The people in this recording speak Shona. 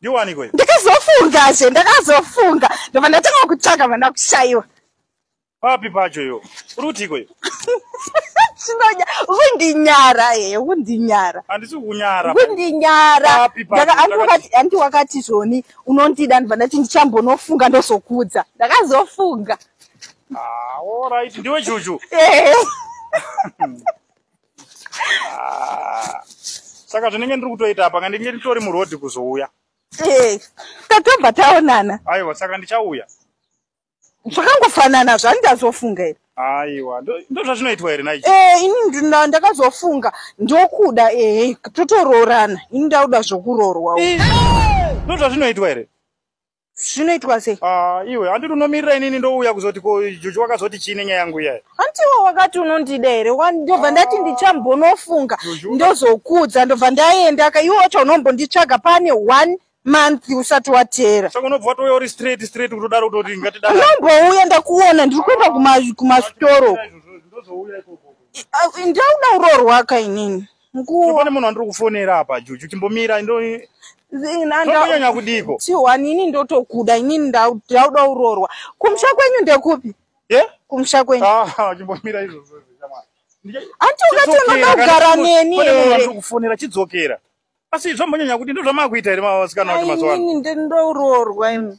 ndiwaniko iyo ndakazofunga zve ndakazofunga ndobva ndatanga kutsvaga vana kushaiwa papi pacho iyo uri kutiko iyo chinonya kundinyara hee eh, kundinyara handisi kunyara kundinyara handi wakati zvoni unondida ndibva ndati ndichambonofunga ndozokudza ndakazofunga ah, orit ndiwe chuchu eh. Ah. saka zvinenge ndiri kutoita apa ka ndinge nditori murodhi kuzouya eh, tatobva taonana aiwa saka ndichauya zvakangofanana zvandazofunga here aiwa ndozvazvinoitwa here nai eh, ini ndakazofunga ndokuda ehe totoroorana ini ndakuda zvokuroorwa ndozvazvinoitwa here zvinoitwa sei ah, iwe handiti unomirira inini ndouya kuzoti ko juju wakazoti chii nenyaya yangu iyayi handiwo wakati unondida here ndobva ndati ndichambonofunga ndozokuudza ndobva ndaenda ka iwe wacho unombonditsvaga pane one month usati wateera saka unobva watouya uri straight straight kutodaro kutoti ngatidaro unombouya ndakuona ndiri kuenda kumasitoro ndauda uroorwaka inini nguva pane munhu wandiri kufonera apa juju chimbomira ndombonyanya kudiko chihwani ini ndotokuda inini ndauda uroorwa kumusha kwenyu ndekupi kumusha kwenyu ah, chimbomira izvozvo hanti ukatonoda kugara neni ere kufonera chidzokera asi zvombonyanya kuti ndozvamakuita here masikana kuti mazuva ano ndouroorwa imi